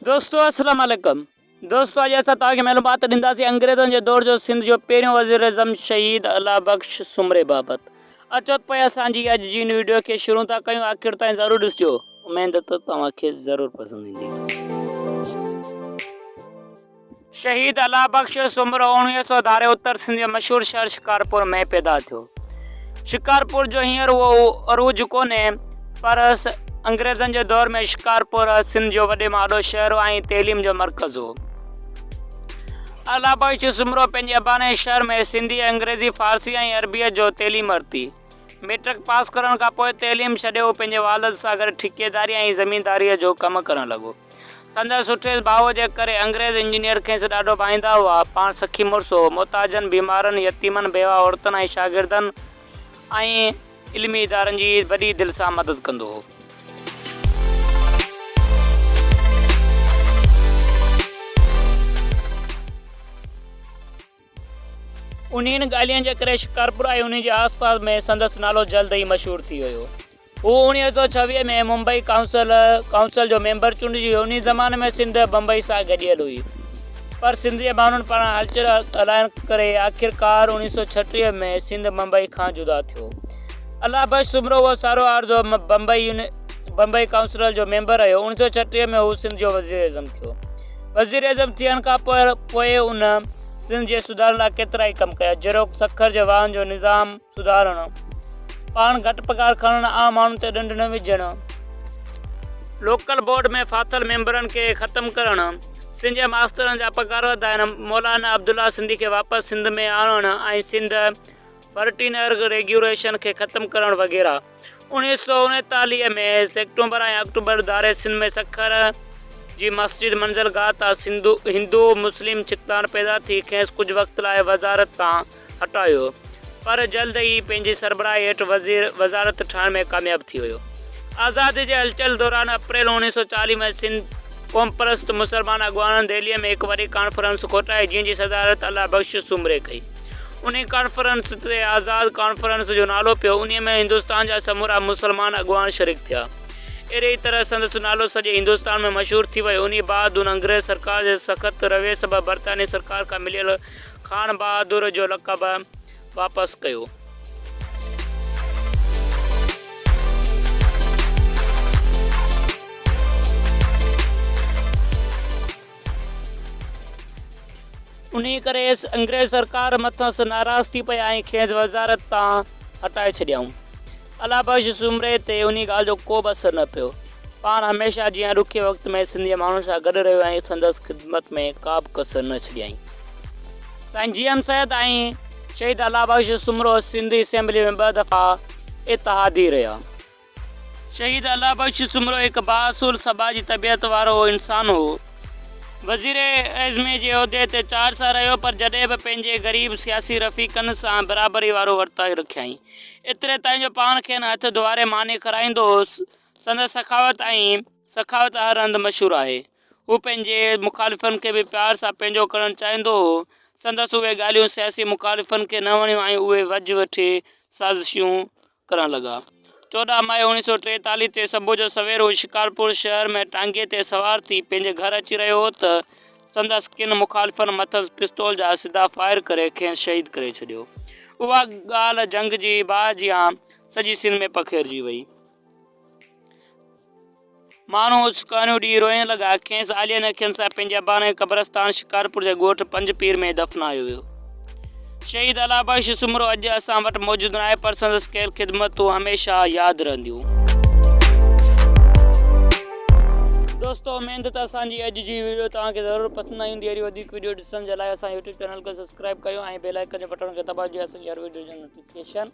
دوستو اسلام عليڪم دوستو اڄ اسان توهان کي معلومات ڏينداسين انگريزن جي دور جو سنڌ جو پهريون وزير اعظم شهيد الله بخش سومري بابت اچو ته پوء اسان جي اڄ جي ان ويڊيو کي شروع ٿا ڪيون آخر تائين ضرور ڏسجو اميد ته توهان کي ضرور پسند ايندي. شهيد الله بخش سومرو اوڻويهه سئو ڌاري اتر سنڌ جي مشهور شهر شڪارپور ۾ پيدا ٿيو. شڪارپور جو هينئر اهو عروج ڪونهي پر انگريزن جي دور ۾ شڪارپور سنڌ جو وڏي مان وڏو شهر هو ۽ تعليم جو مرڪز هو. الله بخش سومرو پنهنجي اباڻي شهر ۾ سنڌي، انگريزي، فارسي ۽ عربيء جو تعليم ورتي. ميٽرڪ پاس ڪرڻ کان پوء تعليم ڇڏي هو پنهنجي والد سان گڏ ٺيڪيداري ۽ زمينداريء جو ڪم ڪرڻ لڳو. سندس سٺي ڀاء جي ڪري انگريز انجنيئر کيس ڏاڍو ڀائيندا هئا. پاڻ سخي مڙس هو. محتاجن، بيمارن، يتيمن، بيواهه عورتن ۽ شاگردن ۽ علمي ادارن جي وڏي دل سان مدد ڪندو هو. انهن ڳالهين جي ڪري شڪارپور ۽ انهي جي آس پاس ۾ سندس نالو جلد ئي مشهور ٿي ويو. هو اوڻيهه سؤ ڇويهه ۾ ممبئي ڪائونسل، Council، جو ميمبر چونڊجي ويو. انهي زماني ۾ سنڌ بمبئي سان گڏيل هئي پر سنڌ جي ماڻهن پاران هلچل هلائڻ ڪري آخرڪار اوڻيهه سؤ ڇٽيهه ۾ سنڌ بمبئي کان جدا ٿيو. الله بخش سومرو اهو سارو عرضو بمبئي، Bombay، ڪائونسل جو ميمبر رهيو. اوڻيهه سؤ ڇٽيهه ۾ هو سنڌ جو وزيراعظم ٿيو. وزيراعظم ٿيڻ کان پوء هن سنڌ جي سڌارن لاء ڪيترائي ڪم ڪيا، جهڙوڪ سکر جي واهن جو نظام سڌارڻ، پاڻ گهٽ پگهار کڻڻ، عام ماڻهن تي ڏنڊ نه وجهڻ، لوڪل بورڊ ۾ ڦاٿل ميمبرن کي ختم ڪرڻ، سنڌ جي ماسترن جا پگهار وڌائڻ، مولانا عبدالله سنڌي کي واپس سنڌ ۾ آڻڻ ۽ سنڌ فرٽين ارگ ريگيوريشن کي ختم ڪرڻ وغيره. اوڻيھ سؤ اڻيتاليھ ۾ سيڪٽومبر ۽ آڪٽوبر ڌاري سنڌ ۾ سکر جي مسجد منزل گاھ تان سنڌو هندو مسلم ڇڪتاڻ پيدا ٿي کيس ڪجھ وقت لاء وزارت تان هٽايو پر جلد ئي پنهنجي سربراهي هيٺ وزير وزارت ٺاهڻ ۾ ڪامياب ٿي ويو. آزادي جي هلچل دوران اپريل اوڻيھ سؤ چاليھ ۾ سنڌ قومپرست مسلمان اڳواڻن دهليء ۾ هڪ وڏي ڪانفرنس ڪوٺائي جنهن جي صدارت الله بخش سومري ڪئي. انهيء ڪانفرنس تي آزاد ڪانفرنس جو نالو پيو. انهيء ۾ هندستان جا سمورا مسلمان اڳواڻ شريڪ ٿيا. اهڙيء ئي طرح سندس نالو سڄي هندستان ۾ مشهور ٿي ويو. انهيء بعد هن انگريز سرڪار جي سخت رويي سبب برطانوي سرڪار کان مليل خان بهادر جو لقب واپس ڪيو. انهيء ڪري انگريز سرڪار مٿس ناراض ٿي پئي ۽ کيس وزارت تان هٽائي ڇڏيائون. الله بخش سومري تي انهيء ڳالهه جو ڪو به اثر نه پيو. پاڻ هميشه جيان ڏکئي وقت ۾ سنڌي ماڻهن سان گڏ رهيو ۽ سندس خدمت ۾ ڪا به ڪسر نه ڇڏيائين. سائين جي ايم سيد ۽ شهيد الله بخش سومرو سنڌي اسيمبليء ۾ ٻه دفعا اتحادي رهيا. شهيد الله بخش سومرو هڪ بااصول سڀاء جي طبيعت وارو انسان هو. وزير اعظم جي عهدي تي چار سال رهيو پر جڏهن به پنهنجي غريب سياسي رفيقن سان برابري وارو ورتاء رکيائين. ايتري تائين جو پاڻ کين هٿ ڌوئاري ماني کارائيندو هوس. سندس سخاوت ۽ سخاوت هر هنڌ مشهور آهي. هو پنهنجي مخالفن کي به پيار سان پنهنجو ڪرڻ چاهيندو هو. سندس اهي ڳالهيون سياسي مخالفن کي نه وڻيون ۽ اهي وجهه وٺي سازشون ڪرڻ لڳا. چوڏهن مئي اوڻيهه سؤ ٽيتاليهه تي صبح جو سوير هو شڪارپور شهر ۾ ٽانگي تي سوار ٿي پنهنجي گهر اچي رهيو هو ته سندس ڪن مخالفن مٿس پستول جا سڌا فائر ڪري کيس شهيد ڪري ڇڏيو. اها ڳالهه جنگ جي باهه جيان سڄي سنڌ ۾ پکيڙجي وئي. ماڻهو اڇڪاڻيون ڏيئي روئڻ لڳا. کيس آلين اکين سان پنهنجي اباڻي قبرستان شڪارپور جي ڳوٺ پنج پير ۾ دفنايو ويو. شهيد الله بخش سومرو اڄ اسان وٽ موجود ناهي پر سندس ڪيل خدمتون هميشه ياد رهنديون. دوستو اميد ته اسان جي اڄ جي ويڊيو توهان کي ضرور پسند آئي هوندي اهڙي وڌيڪ ويڊيو ڏسڻ جي لاء اسان جي يوٽيوب چينل کي سبسڪرائيب ڪيو ۽ بيل آئيڪن جي بٽڻ کي دٻايو جيئن اسان جي هر ويڊيو جو نوٽيفڪيشن